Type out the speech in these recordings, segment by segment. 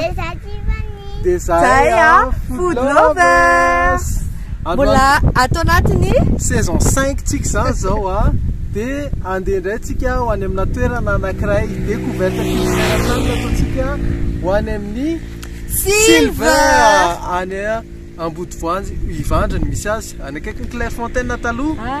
Desativa ni Desaya Food Lovers Mbola ato anatin'ny saison 5 tsika izany zao a. Ah. Dia andeha indray tsika ho any amina toerana anankiray découverte fisainana ataontsika ho any amin'ny Silver any Ambodivoanjy Ivandriny misy azy any akaikin'ny Clairefontaine taloha.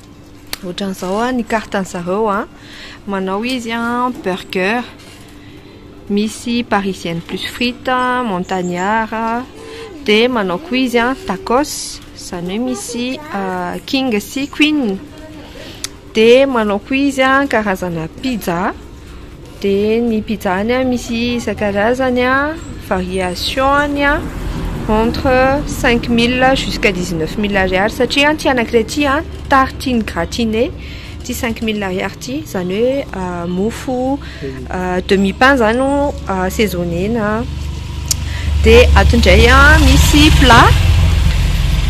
Ohatran'izao an, ny carte-ny zareo an, manao izy an, burger, misy parisienne plus frites, montagnard, dia manao koa izy an, tacos, izany hoe misy king sy queen, dia manao koa izy an, karazana pizza. Dia ny pizza-ny an misy isan-karazany an, variation-ny an, entre cinq mille jusqu'à dix neuf mille ariary satria an ity anankiray ity an tartine gratinée ity cinq mille ariary ity izany hoe mofo demi pain izany no asezonena. Dia ato indray an, misy plat,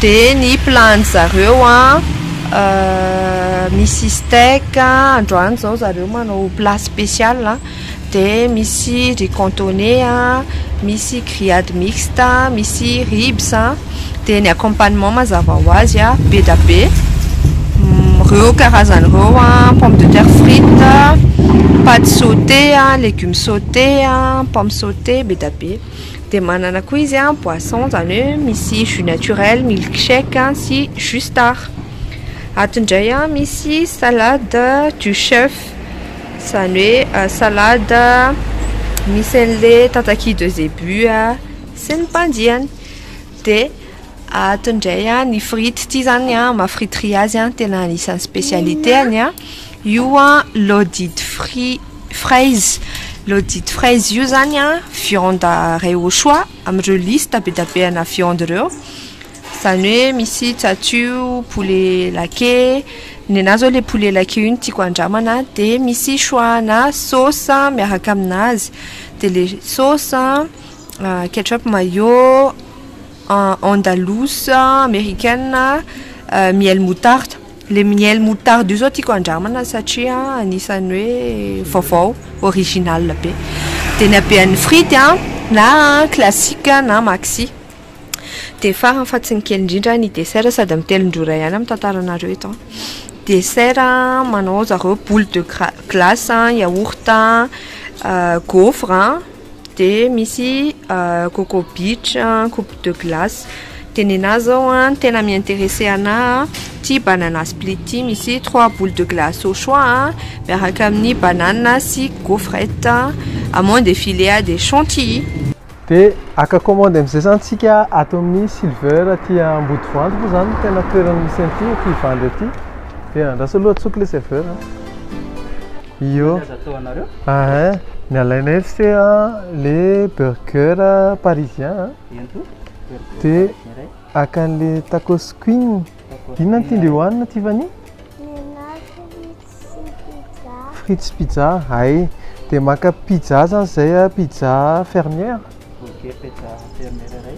dia ny plat an'ny zareo an, misy steak, androany izao zareo manao plat spécial an, dia misy riz cantonais an, misy grillade mixte, misy ribs an. dia ny accompagnement mazava ho azy a be dia be ireo karazany ireo a pomme de terre frite paty saute a legume saute a pomme saute be dia be dia manana koa izy a boisson izany hoe misy jus naturel milk shake a sy jus star ato indray a misy salade du chef izany hoe salade misy an'ilay tataky de zebu a sy ny mpandiany Dia ato indray an, ny frity ity zany an, maha friterie azy an, tena anisan'ny spécialité-any an, io an l'audit fri- fraise, l'audit fraise io zany an viande ray au choix amin'ireo liste be dia be ana viande ireo, zany hoe misy tsatso, poulet laqué, ny anah zao le poulet laqué io no tiako andramana, dia misy choix ana sauce miaraka aminazy, dia le sauce an. Ketchup mayo, andalouse, americaine, miel moutarde. Le miel moutarde io zao tiako handramana satria anisany hoe vaovao, original be. De ny habean'ny frity an, na classique na maxi. De farany fa tsy ny kely indrindra ny dessert sady amin'ny telon-drora ihany no mitantara anareo eto. Dessert manao zareo boule de gla- glace, yaourt, gaufre. Dia misy Coco Beach, Coupe de Glace. Dia nenah izao an, tena mi-interesser anah ity Banana Split ity, misy trois boules de glace au choix an, miaraka amin'ny banana sy gaufrette, amande et filet de chantilly. Dia haka commande amin'izay izany isika ato amin'ny Silver aty Ambodivoanjo moa izany no tena toerana misy an'ity, ity vendeur ity. Dia andraso aloha tsoky ilay serveur an. Io. Ahin, ny alainay eto se le burger parisien a. Dia haka an'le tacos queen. Inona no tian'dry hohanina Tiffany? Frites sy pizza. Hay, dia maka pizza zany izay a, pizza fermière. Ok, pizza fermière iray.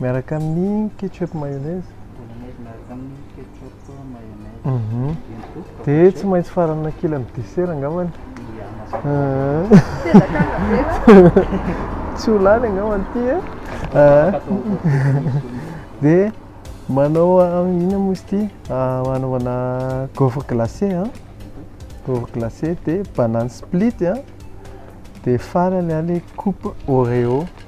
Miaraka amin'ny ketchup mayonnaise. Bolognaise miaraka amin'ny ketchup mayonnaise. Mhm. Dia tsy maintsy faranana kely amin'ny dessert angambany. Tsy ho lany angambany ity e. Dia manao inona moa izy ity? Hanaovana gaufre glacé a. Gaufre glacé dia banane split a. Dia farany ilay coupe oreo.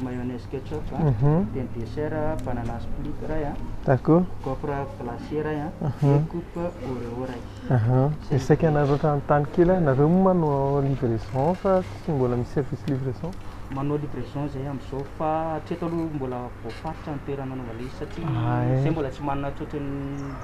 mayonnaise ketchup a, pain de dessert banana split iray a, gaufre glacé iray a, dia coupe oreo iray. Dia saika nareo efa nanontany kely ahy, nareo moa manao livraison sa tsy mbola misy service livraison? Manao livraison izahay amin'izao fa hatreto aloha mbola voafaritra ny toerana anaovana izy satria izahay mbola tsy manana tsotra ny.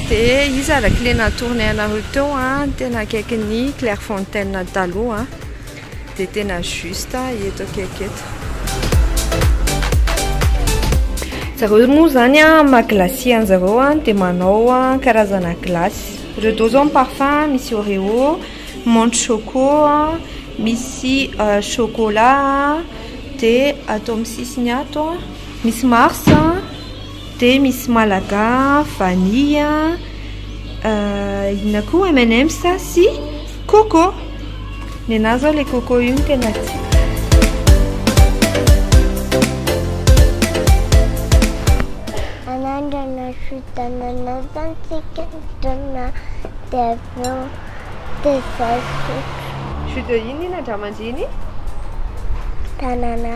Dia iza ilay kle natoronay anareo teo an, tena akaikin'ny Clairefontaine taloha an, dia tena juste eto akaiky eto. Zareo moa izany an, maha glacier an'zareo an, dia manao an karazana glace, ireo dô izao ny parfum, misy oreo, menthe choco an, misy chocolat an, dia ato amin'ny sisiny ato an, misy mars an. Dia misy malaga, vanille, inona koa M&M's sy coco. Ny anah zao ilay coco io no tena tiako. Anandrana sy tanana santsika mitonona dia avy eo dia izay. Jus de inona iny an-dramandreny? Tanana.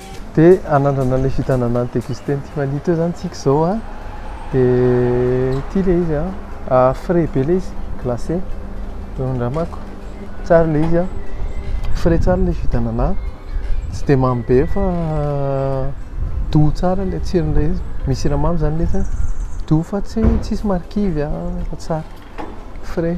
Dia anandrana ilay fitanana ny tekisty teny Tifaniditra eo izany tsika izao a. Dia ity ilay izy a, frais be ilay izy, glacé, raha ny andramako. Tsara ilay izy a, frais tsara ilay jus d'anana, tsy dia mamy be fa doux tsara ilay tsiron'ilay izy. Misy siramamy izany nefany, doux fa tsy tsisy marikivy a, fa tsara, frais.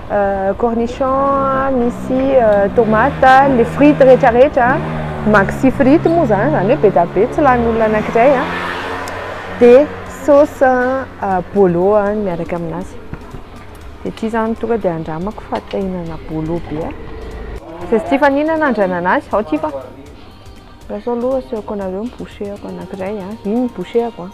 cornichons, misy tomates, les frites rehetra rehetra, maxi frites moa izany, izany hoe be dia be tsy lanin'olona anankiray an, dia sauce bolo miaraka amin'azy, dia ity izany tonga dia andramako fa te hihinana bolo be aho, izay tsy tia hifaninana andrainana azy, ao ity fa, andraso aloha asehoko anareo ny bouchee-ko anankiray an, iny ny bouchee-ko an.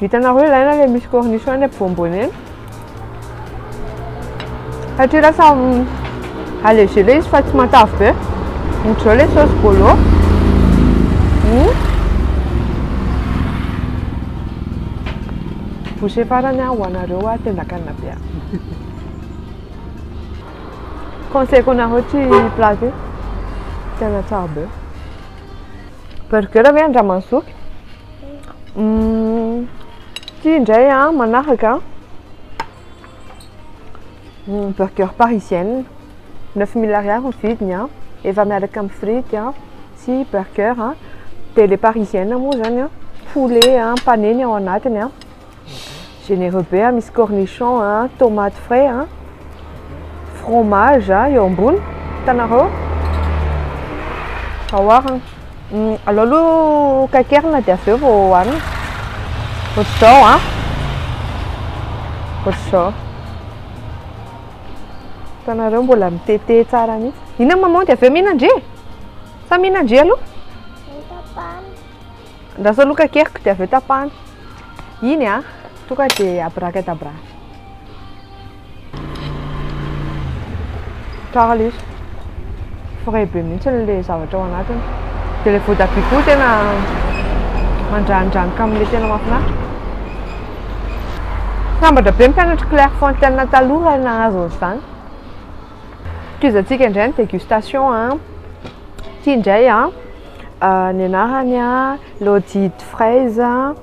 Hitanareo ilay aina ilay misy cornichone à bonbonne satria lasa allégé ilay izy fa tsy matavy be ohatr'izao ilay sauce bolo hmm. bouché farany ho anareo a tendakanina be a conseil ko anareo tsy plat io tena tsara be burger ve andramansoky Mm. Ity indray a, manaraka mm, burger parisienne. 9000 ariary ny vidiny a. Efa miaraka amin'ny frity a sy burger a. Dia ilay parisienne moa izany a, poulet a, panenny ao anatiny a. Généreux be a, misy cornichon a, tomate frais a, fromage a, eo ambony, hitanareo? Aoharana. Mm, alao aloha kakerina dia avy eo vao hohanina. Ohatr'izao a. Ohatr'izao. Hitanareo mbola mitete tsara mihitsy. Inona maman dia avy eo mihinana ndry e? Sa mihinana ndry aloha? Andraso aloha kakeriko dia avy eo tapahana. Iny a! Tonga dia abracadabra. Tsara ilay izy. Frais be mihitsy ilay zavatra ao anatiny. Dia ilay voatabia koa tena mandranidranitra amin'ilay tena mahafinaritra. Sambatra be ny mpianatry Clairefontaine taloha raha nahazo an'izany. Tohizantsika indray ny dégustation an! Ity indray an! Ah, ny anarany an, Laudide Fraise an,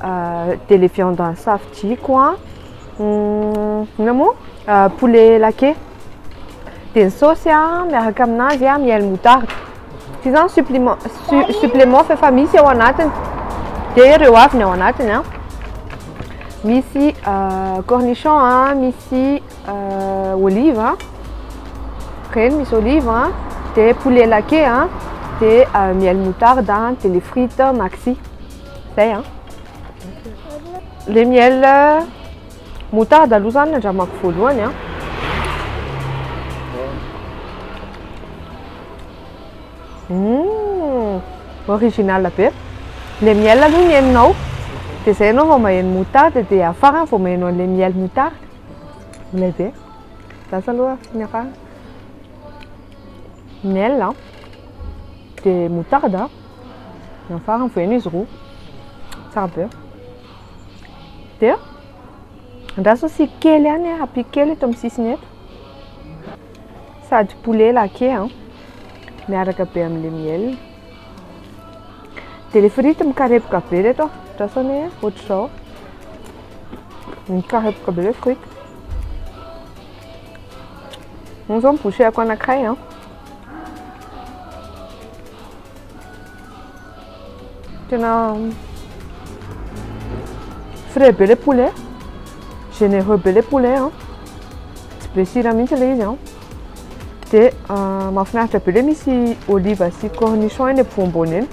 dia ilay viande an'ny safidiako an, inona moa? poulet laqué. Dia ny saosy an, miaraka aminazy an, miel moutarde. Ity izany suppliment, supplément f'efa misy ao anatiny. Dia ireo avy ny ao anatiny an, misy cornichon an, misy. Euh, olive a, reny misy olive a, de poulet laqué a, de euh, miel moutarde a, de le frite maxi, zay a. Le miel moutarde aloha zany nandramako voalohany a. Hum, original be. Le miel aloha ny henonao, de zay ianao vao maheno moutarde, de farany vao maheno an'le miel moutarde. Milay be. Za sa aloha tsy miarà. Miel an, dia moutarde an, dia amin'ny farany voaeno izy roa. Tsara be. Dia andraso ny sira kely ihany an, ampiako kely eto amin'ny sisiny eto. Sady poulet laqué an, miaraka be amin'ilay miel. Dia ilay frity mikarepoka be ireto a, andrasana hoe ohatr'izao, mikarepoka be ilay frity. Io izao ny bouchée-ko anankiray an. Tena frais be ilay poulet, généreux be ilay poulet an, tsy be sira mihitsy ilay izy an. Dia mahafinaritra be le misy olive sy cornichon eny ampovoambony eny.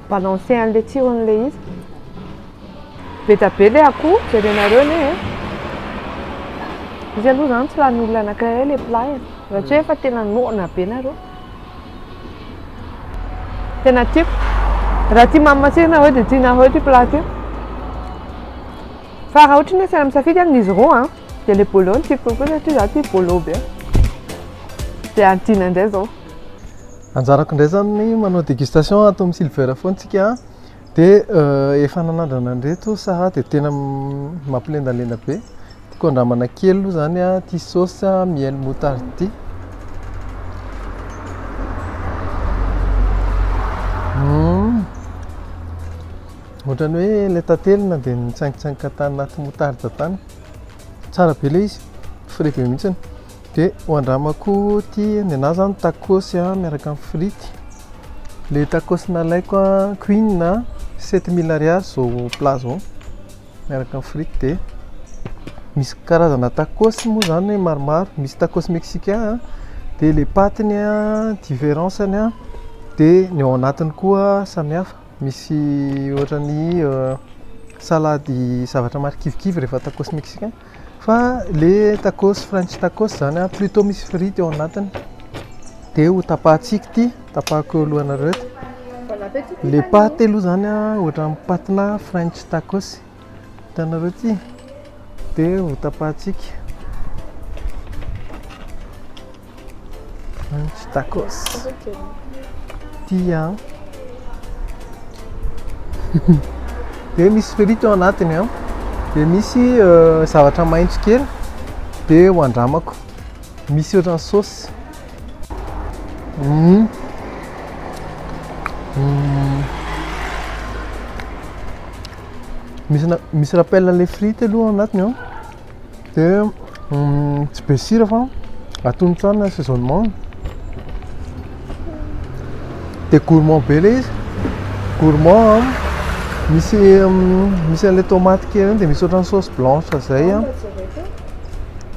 Balancer an'le tsiron'le izy. Beta be le akoho, jerenareo ne. Eh. Izy aloha zany tsy lanin'olona anankiray le plat e. Raha tsy hoe efa tena noana be nareo. Tena tiako. Raha tia mamy matsiro nareo dia tianareo ity plat ity. Fa raha ohatry ny hoe saina misafidy aminy izy roa an, dia ilay bolo no tiako kokoa satria izaho tia bolo be. Dia hadina indray izao. Anjarako indray izany ny manao dégustation ato amin'ny Silver Phone tsika an. Dia efa nanandrana an'ireto Sarah dia tena mampilendalenda be. Tiako andramana kely aloha izany an, ity saosy miel moutarde ity. Ohatran'ny hoe ilay tantely na dia nitsaingitsaingika tany anaty moutarde tany. Tsara be ilay izy, frais be mihitsy. Dia ho andramako ity, ny anà izany tacos miaraka amin'ny frity. Ilay tacos nalaiko an, Queen an, sept mille ariary izao plat izao miaraka amin'ny frity dia misy karazana tacos moa izany maromaro, misy tacos mexicain an, dia ilay patiny an, différence-ny an, dia ny ao anatiny koa samihafa. Misy ohatran'ny salady zavatra marikivikivy rehefa tacos mexicain. Fa le tacos french tacos zany a plutot misy frity ao anatiny de ho tapahantsika ity, tapahako eo alohanareo eto. Le paty aloha zany a ohatran'ny patina french tacos. Hitanareo ity dia ho tapahantsika. Tsy tacos. Tia. Dia misy frity ao anatiny an. Dia misy euh, zavatra maitso kely. Dia ho andramako. Misy ohatran'ny saosy. Mm. Mm. misy misy rappel an'ilay frite aloha ao anatiny an dia mm, tsy be sira fa atony tsara ny assaisonnement dia gourmand be ilay izy gourmand an misy mm, misy an'ilay tomate kely reny dia misy ohatran'ny sauce blanche izay an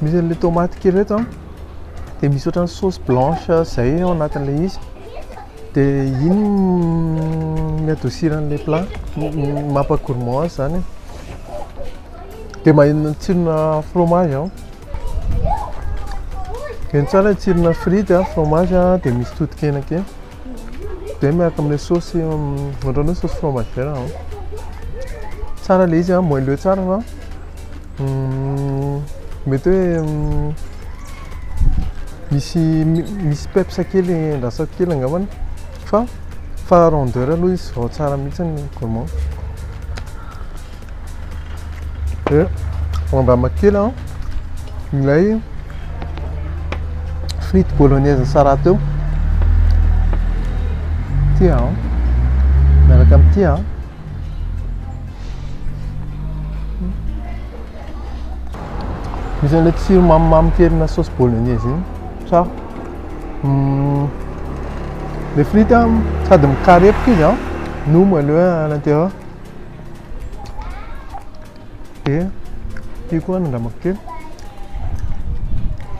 misy an'ilay tomate kely reto an dia misy ohatran'ny sauce blanche izay ao anatin'ilay izy De ino mi adoucir an'ilay plat? Mampa gourmand azy zany an. De maheno ny tsironà fromage aho. Heno tsara ny tsironà frity an, fromage an, de misy totokena kely. De miaraka amin'ilay saosy ohatran'ny hoe saosy fromagère an. Tsara ilay izy an, moelleux tsara an. Mety hoe misy misy peps kely andrasako kely angambany fa fa rondeur aloha izy vao tsara mihitsy ny gourmand. Dia mandamina kely aho ilay frity bolognaise nisara teo. Ity aho miaraka amin'ity aho. Misy an'ilay tsiro mamimamy kelina sauce bolognaise iny sa hmm, le frite a sady mikarepoka izy a no moelleux à l'intérieur dia ity koa nandramako kely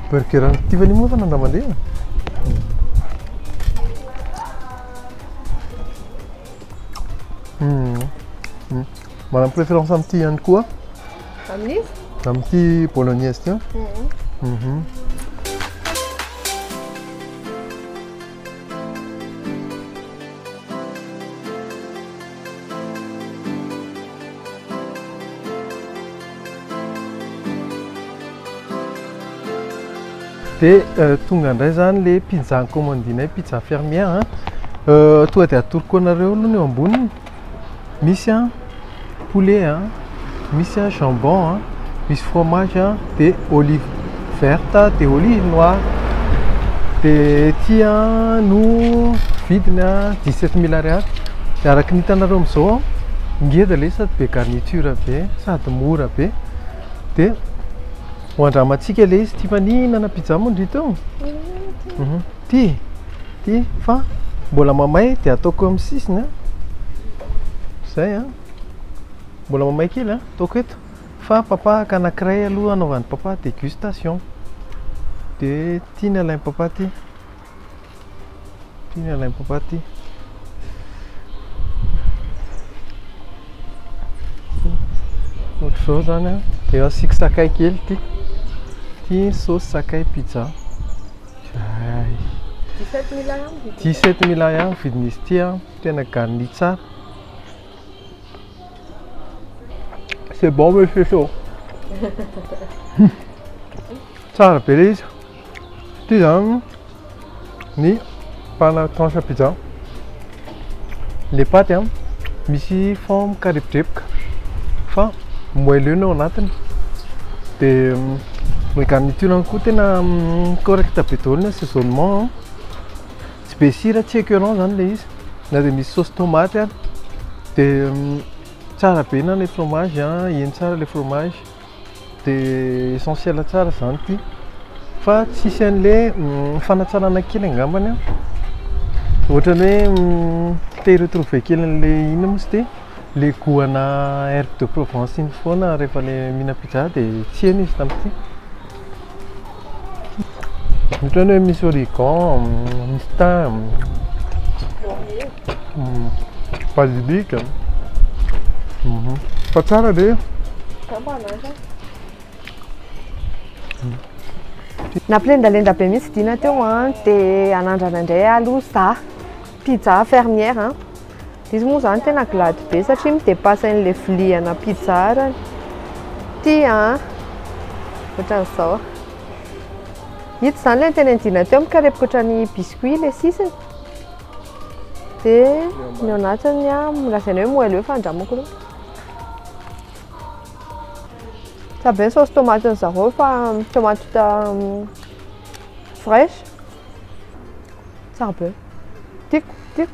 burger an'i Tiffany moa fa nandramandrena Hmm. Hmm. Manam préférence amin'ity ihany koa. Amin'izy? Amin'ity bolognaise ity. Mhm. Mhm. Dia tonga indray izany ilay pizza nikaomandinay, pizza fermière a. Tonga dia atoroko anareo aloha ny eo amboniny. Misy a poulet a, misy a jambon a, misy fromage a, dia olive. verte de olive noir dia ety no vidiny a 17 mille ariary dia araka ny hitanareo amin'izao a ngeza ilay izy sady be garniture be sady mora be dia ho andramantsika ilay izy ity fa ny hihinana pizza moa ndry teo ity ity fa mbola mamay dia ataoko eo amin'ny sisiny a izay a mbola mamay kely a ataoko eto Fa papahaka anakiray aloha anaovan'ny papa degustation de tiany alain'ny papa ty tiany alain'ny papa ty ohatr'izao zany a de asiako sakay kely ty ty sauce sakay pizza zay 17 mila ihany vidin'izy ty a tena garni tsara C'est bon mais c'est chaud. Tsara be ilay izy. Ity izany ny pana tranche pizza. Ilay paty a, misy forme karepodrepoka fa moelleux ny ao anatiny. Dia ny garniture-ny koa tena correct be daholo ny assaisonnement. Tsy be sira, tsy écœurant zany le izy. Na dia misy sauce tomate ary. Dia tsara be na le fromage an, heno tsara le fromage. Dia essentiel tsara zany ity. Fa tsy hisy an'le fanatsarana kely angambany an. Ohatran'ny hoe te hi-retrouver kely an'le inona moa izy ity? Le goût ana herbes de Provence iny foana rehefa le mihinam-pizza dia tsy heno izy tamin'ity. Ohatran'ny hoe misy origan, misy thym, basilic. Fa tsara ve? Nampilendalenda be mihitsy Dina teo an, dia hanandrana indray aloha izaho, pizza fermière an. Izy moa zany tena glady be satria midepasy an'ilay vilia ana pizza arany. Ty an! Ohatran'izao. Ito zany ilay nitenenjina teo mikarepoka ohatran'ny biscuit ilay sisiny. Dia ny ao anatiny an, lazaina hoe moelleux fa andramo akory moa. Tsara be ny saosy tomatin'ny zareo fa tomaty vita fraîche. Tsara be. Tiako, tiako.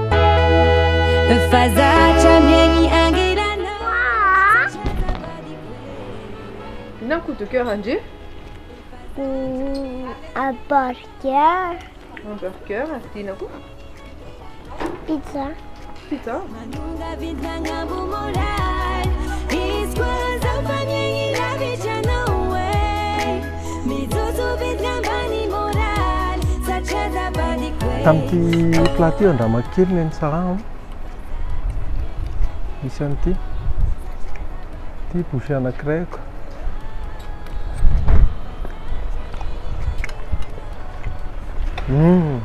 Inona ny coup de coeur an-dry? Hamburger. Hamburger, dia inona koa? Pizza. Pizza. Tamin'ity plat ity andramaky kely ny tsaraho. Misy an'ity. Ity bouchée anankiray ako. Hum.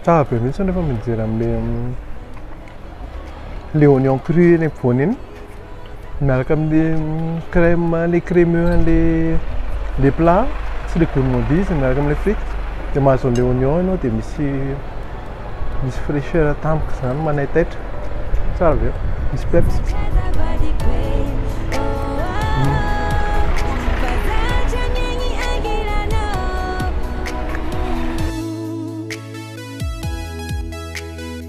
Tsara be mihitsy nefa mijery amin'ilay le oignon cru eny ampovoany eny. miaraka amin'ny crème ilay crémeux an'ilay plat sy ilay gourmandise miaraka amin'ilay frites dia mahazo an'ilay oignon ianao dia misy misy fraîcheur tampoka izany manaitaitra tsara be misy peps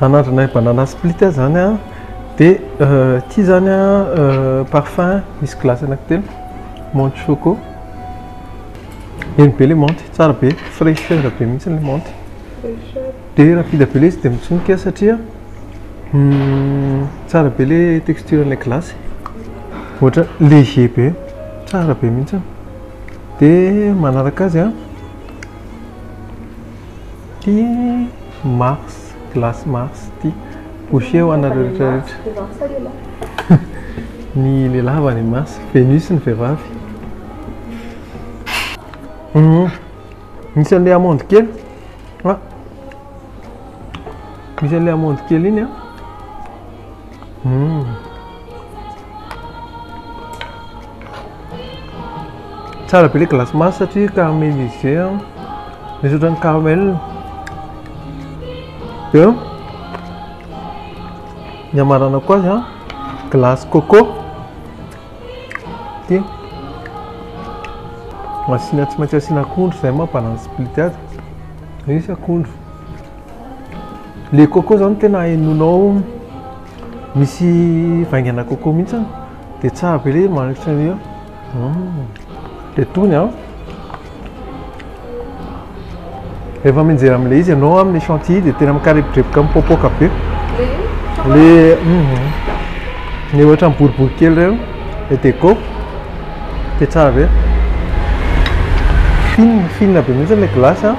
Anandrana banana split zany a dia ity zany a parfum misy glace anankitelo menthe choco eny be le menthe tsara be fraîcheur be mihitsy le menthe dia rapide be le izy dia mitsonika satria tsara be le texture an'ilay glace ohatra léger be tsara be mihitsy dia manaraka azy a. Ity mars glace mars ity boucher ho anareo rehetra rehetra. Ny lehilahy va ny mars venus ny vehivavy. Misy an'ilay amande kely misy an'ilay amande kely iny an. Hum. Tsara be le glace masy satria caramélisé an. Misy ohatran'ny caramel. Dia ny hamaranako azy an, glace coco. Ity. Asiana tsy maintsy asiana akondro izay maha balance split azy. Misy akondro. Le coco zany tena hainonao misy vaingana coco mihitsy an, dia tsara be le manitra an'io, dia tony an, rehefa mianjera amin'ilay izy ianao amin'ny chantilly dia tena mikarebodreboka mipoapoaka be, le le ohatran'ny boribory kely ireny le deco dia tsara be, fine fine be mihitsy ilay glace an.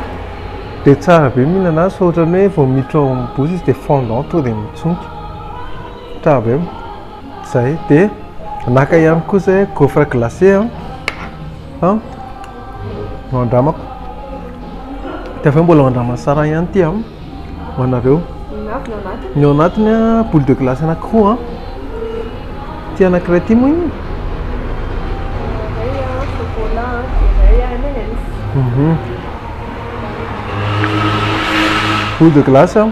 Dia tsara be mihinana azy fa ohatran'ny hoe vao miditra ao amin'ny bouche izy dia fondant tonga dia mitsonika. Tsara be. Izay. Dia naka ihany koa izay gaufre glacé an. An. No andramako. Dia avy eo mbola andraman'i Sarah ihany ity an. Ho anareo. Ny ao anatiny an, boule de glace anankiroa an. Ity anankiray ity moa inona? Mhm. Boule de glace a,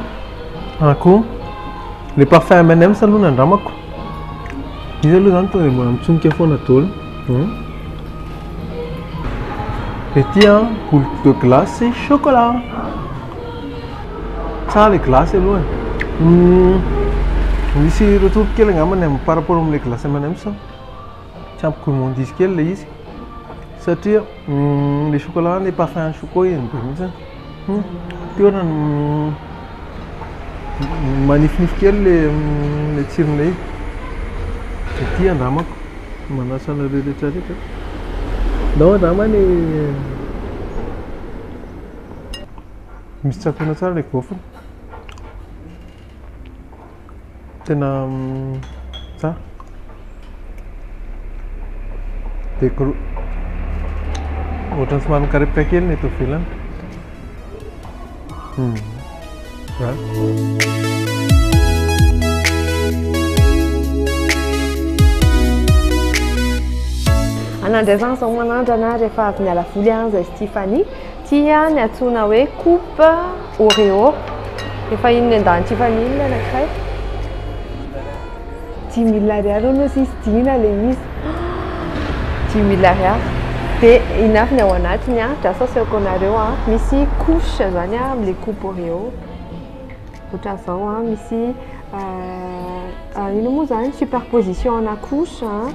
akoho, le parfum M&M's aloha ny andramako. Izy aloha zany tonga de mbola mitsonika foana daholo. Hum. Ety a, boule de glace sy chocolat. Tsara le glace aloha e. Hum, misy retour kely angamba ny amin'ny par rapport amin'ilay glace M&M's. tsy ampy gourmand dizy kely ilay izy satria ilay chocolat ilay parfum an'ny choco iny be mihitsy an, ity ohatran'ny manifinify kely ilay tsiron'ilay izy, ity andramako, manasa anareo rehetrarehetra, ndao andrama ny misy tsatona tsara ilay gaufre. Tena tsara. Dia gro... Ohatran'ny somary mikarepoka kely ny eto ivelany. Hmm. Anandrana izao manandrana rehefa avy niala voly an, izay Stéphanie. Tia ny antsoina hoe coupe Oreo. Efa iny nendahan'ity famille ny anankiray. Dimy mille ariary hono hozy izy, dina ilay izy. Dimy mille ariary. Dia iny avy ny ao anatiny an, drasa asehoko anareo an, misy couche izany an amin'ilay coupe Oreo. Ohatran'izao an, misy inona moa izany, superposition ana couche an.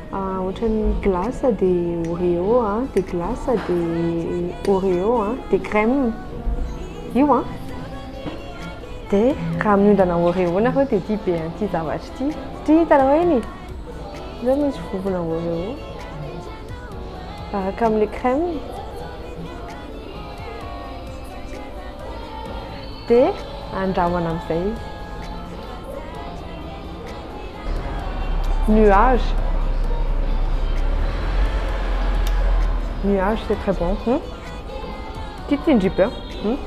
Ah ohatran'ny glace de oreo a, de glace de oreo a, de crème io a, de raha miondana oreo nareo de tia be an'ity zavatra ity satria hitanareo eny e, zao misy vovona oreo miaraka amin'ilay crème, de andrahoana amin'izay izy. Nuage. Nuage c'est très bon. Hmm? Tia tsindry be. Hmm?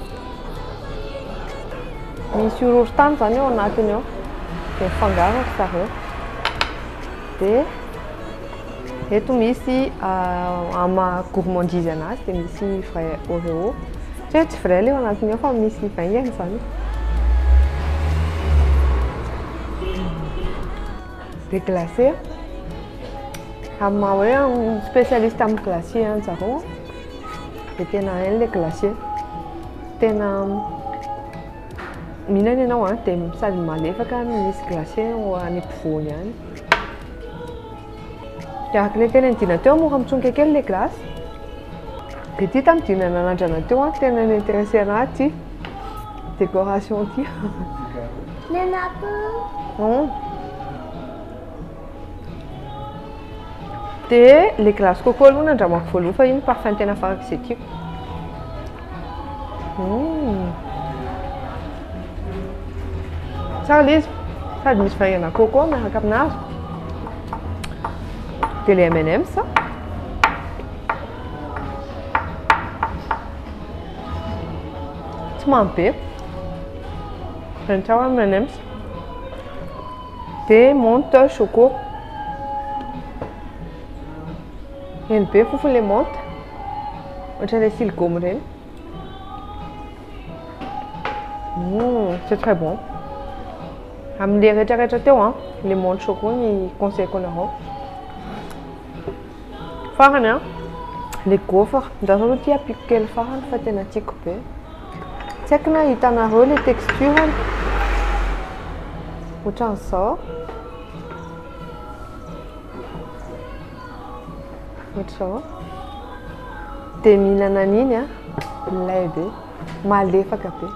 Misy horohorontany zany eo anatiny eo. Dia fangaro ry zareo. Dia Eto misy ama gourmandise anazy dia misy vrai oreo. Teo tsy vrai leo anatiny ao fa misy vaingany izany. Dia glacé. Amin'ny maha hoe spécialiste amin'ny glacé ihany zareo dia tena hainy ilay glacé. Tena Mihinana ianao an, dia sady malefaka no misy glace ao any ampovoany any. Dia araka ilay tena nidinana teo mora mitsonika kely ilay glace. Dia ity tamin'ny dina nanandrana teo an, tena ni-interesser anahy ity décoration ity. Nenako. Dia ilay glace coco aloha ny andramako voaloha fa iny parfum tena farak'izay tiako. Hum. Tsara ilay izy. Sady misy vaingana coco miaraka aminazy. Dia ilay M&M's. Tsy mamy be. Raha ny tiako M&M's. Be monte choco. Heno be fofony le monte. Ohatran'ilay sily gomme ireny. Mmh, c'est très bon. Amin'ilay retraretra teo an, le monte choco ny conseil-ko anareo. Farany an, le gaufre, za zao tia apiko kely farany fa tena tiako be. Tsy haiko na hitanareo le texture-ny. Ohatran'izao. Ohatr'izao. Dia mihinana an'iny an, milay be, malefaka be.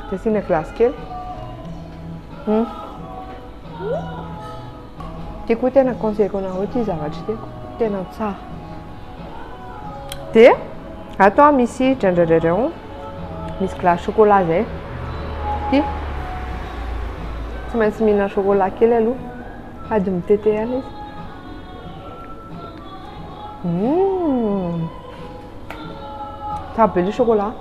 Dia asiana glace kely. Hmm. Ity koa tena conseil-ko anareo ity zavatra ity tena tsara. Dia ato a misy drandradradrao misy glace chocolat zay. Ity tsy maintsy mihinana chocolat kely aloha sady mitete ihany izy. Hum. Tsara be le chocolat.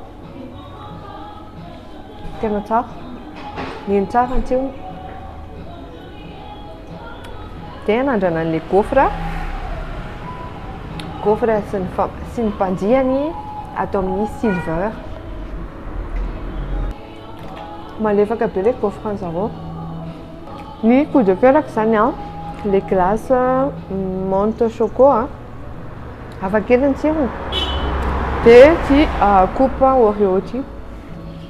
Tena tsara. Nino tsara ny tsirony. Dia anandrana an'ilay gaufre, gaufre sy ny fa- sy ny mpanjiany ato amin'ny silver. Malefaka be ilay gaufre an'i zareo. Ny coup de coeur-ko izany an, ilay glace menthe choco an, hafakely ny tsirony. Dia ity coupe oreo ity.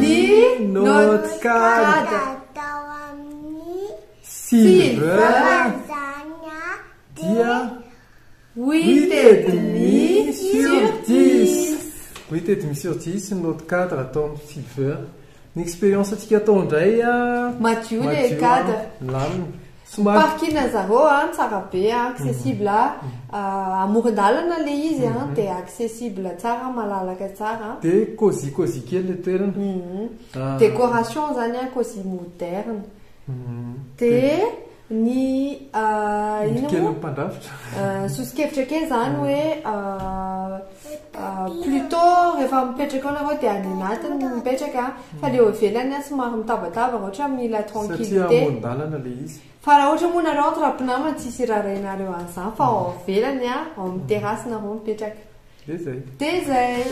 Ny notes-card. Atao amin'ny Silver zana dia huit et demi sur dix. Huit et demi sur dix ny note cadre atao amin'ny silver. Ny expérience-ntsika atao indray Madio ilay Madio, cadre. milamina. Somary. Parking an'i zareo an, tsara be an, accessible ah, amoron-dalana ilay izy an, dia accessible tsara, malalaka tsara an. Dia cosy cosy kely ilay toerana. Ah. Décoration izany an, cosy moderne. Dia ny ah, Indro inona kelin'ny moa? mpandrafitra. Ah, Soso-kevitra kely izany hoe ah, Plutot rehefa mipetraka ao nareo dia any anatiny no mipetraka fa le eo ivelany an somary mitabataba ohatra mila tranquillité. Satria amoron-dalana le izy. Fa raha ohatra moa nareo entre mpinamana tsisy irarahinareo an'izany fa ao ivelany an ao amin'ny terrasse nareo mipetraka. Dia zay. Dia zay.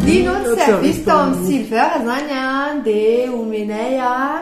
Ny note service tao amin'ny silver zany an dia omenay an.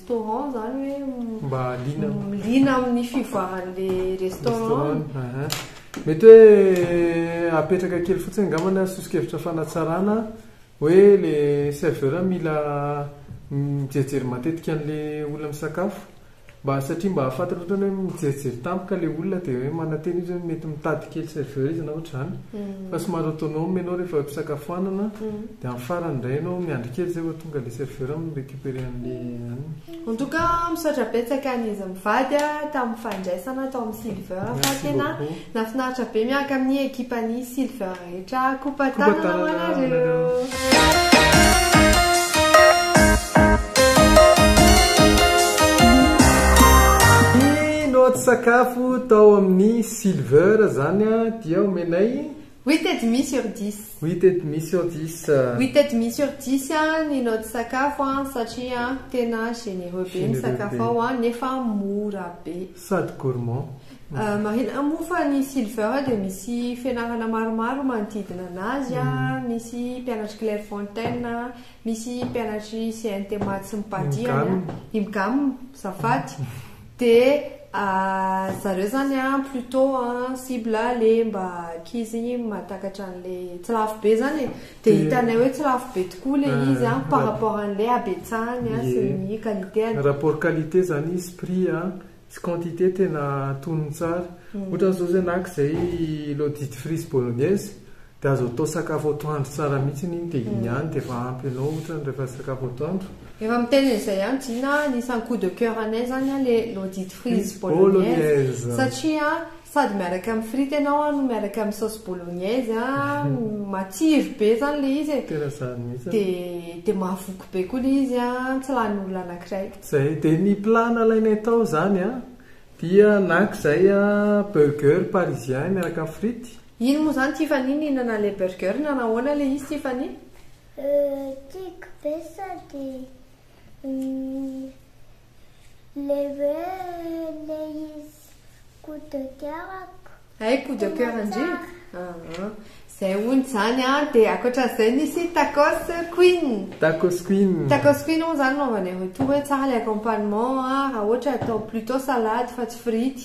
restaurant izany hoe Mba liana am- liana amin'ny fivoaran'ilay restaurant. restaurant. Aha. Mety hoe apetraka kely fotsiny angamba na soso-kevitra fanatsarana hoe ilay serveur mila mijery matetika an'ilay olona misakafo mba satria mba hahafantrany ohatra hoe mijerijery tampoka ilay olona dia hoe manantena izy hoe mety mitady kely serveur izy na ohatr'izany fa somary autonome ianao rehefa eo am-pisakafoanana dia amin'ny farany indray ianao miandry kely izay vao tonga ilay serveur mi-recuperer. Very anle ann. En tout cas misaotra betsaka ny izy mivady a tamin'ny fandraisana tao amin'ny Silver fa tena nafinaritra be miaraka amin'ny ekipa ny Silver rehetra kopa tanana ho anareo. Ny notes sakafo tao amin'ny Silver zany a dia omenay Huit et demi sur dix. Huit et demi sur dix. Huit et demi sur dix ny naoty sakafo satria tena généreux be ny sakafo ao nefa mora be. Sady gourmand. Marihina moa fa ny Silver dia misy fianarana maromaro manodidina anazy, misy mpianatr'i Clairefontaine, misy mpianatr'i CNT Maths sy Mpadie, Imgam, Zafady. Dia zareo zany an plutot an cible le mba ankizy igny mahatakatra an'le tsy lafo be zany e, de hitanay hoe tsy lafo be tokoa le izy an par rapport an'le habetsahany an sy ny qualitény. Rapport qualité zany izy, prix an, sy quantité tena antonony tsara. Ohatra zao zay naka zay lodistifrice bolognaise Dia azo atao sakafo atoandro tsara mihitsy iny dia iny ihany dia efa ampy anao ohatrany rehefa sakafo atoandro. Efa miteny an'izay ihany Jina a, anisan'ny coup de coeur anay izany a le l'audit frise bolognaise satria a sady miaraka amin'ny frity ianao a no miaraka amin'ny sauce bolognaise a, matsiro be izany le izy e, Tena izany mihitsy a. dia dia mahavoky be koa le izy a, tsy lanin'olona anankiray. Izay, dia ny plat nalainay tao izany a dia naka izay a burger parisien miaraka amin'ny frity, Ino moa zany Tiffany nihinana le burger na nahoana le izy Tiffany? Euh tiako be sady le hoe le izy coup de coeur-ko. Hay coup de coeur ndry aa. Zay hono zany a, de akoatran'izay nisy tacos queen. Tacos queen. Tacos queen hono zany anaovanay retour hoe tsara le accompagnement a, raha ohatra atao plutôt salade fa tsy frity.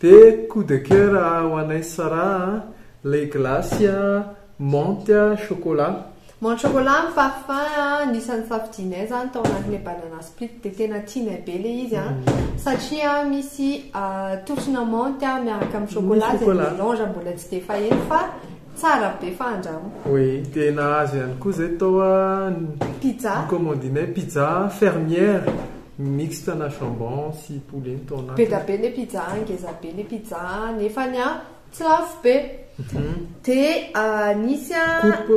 De coup de coeur ho anay sy Sarah a, lay glace a, menthe, chocolat. Menthe chocolat ny faf fin a, anisan'ny safidianay zany tao anatin'le banana split de tena tianay be le izy a, satria misy torsona menthe miaraka amin'ny chocolat zay melange mbola tsy de faheno fa tsara be fa andramo. Oui, de nahazo ihany koa zay tao a, ny pizza, ny commandinay pizza fermière. Mixte na jambon sy poulet ny tao anatiny. Be da be ne pizza an, ngeza be ne pizza an, nefany an tsy lafo be. Dia nisy an. Coupe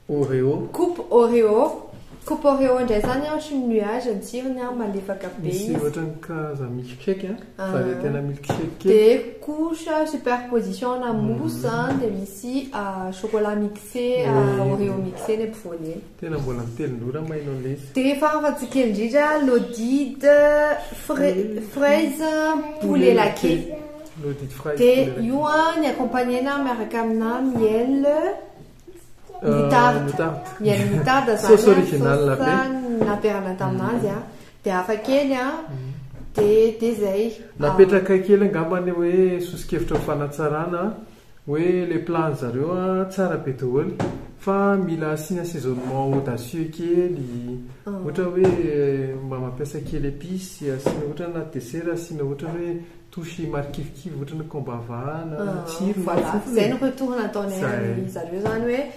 oreo. Coupe oreo. Coupe oreo indray izany an ohatry ny nuage ny tsirony an, malefaka be izy. Misy ohatry ny karazana milkshake an, varietena milkshake kely. Dia couche superposition na mousse an, dia misy chocolat mixé oreo mixé ny ampovoany eny. Tena mbola mitelin-drora mainao lesy. Dia efa afa-tsy kely indrindra Lodide fraise poulet laqué. Lodide fraise poulet laqué. Dia io an, ny accompagner-na miaraka aminà miel moutarde. Miel moutarde zany an. Sauce originale be. Sauce nampiarahana tamin'azy an. Dia hafa kely an. Dia izay. Napetraka kely angamba ny hoe soso-kevitra ho fanatsarana Hoe le plan zareo a tsara be doholy fa mila asiana assaisonnement audacieux kely ohatra hoe mba mampiasa kely epice asiana ohatra hoe anaty dessert asiana ohatra hoe touche marikivikivy ohatra ny combava na ny tsirony, zay no retour nataonay an'zareo zany hoe.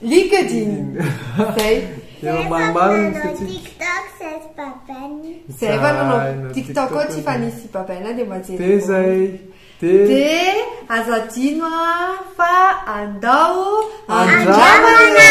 LinkedIn. Zay. Efa maromaro ny fitsipika. TikTok says Babani. Zay efa nanao TikTok koa tsy fa nisy Babana dia majery. Dia zay. Dia Dia aza adino ah, fa andao andramana. Andramana!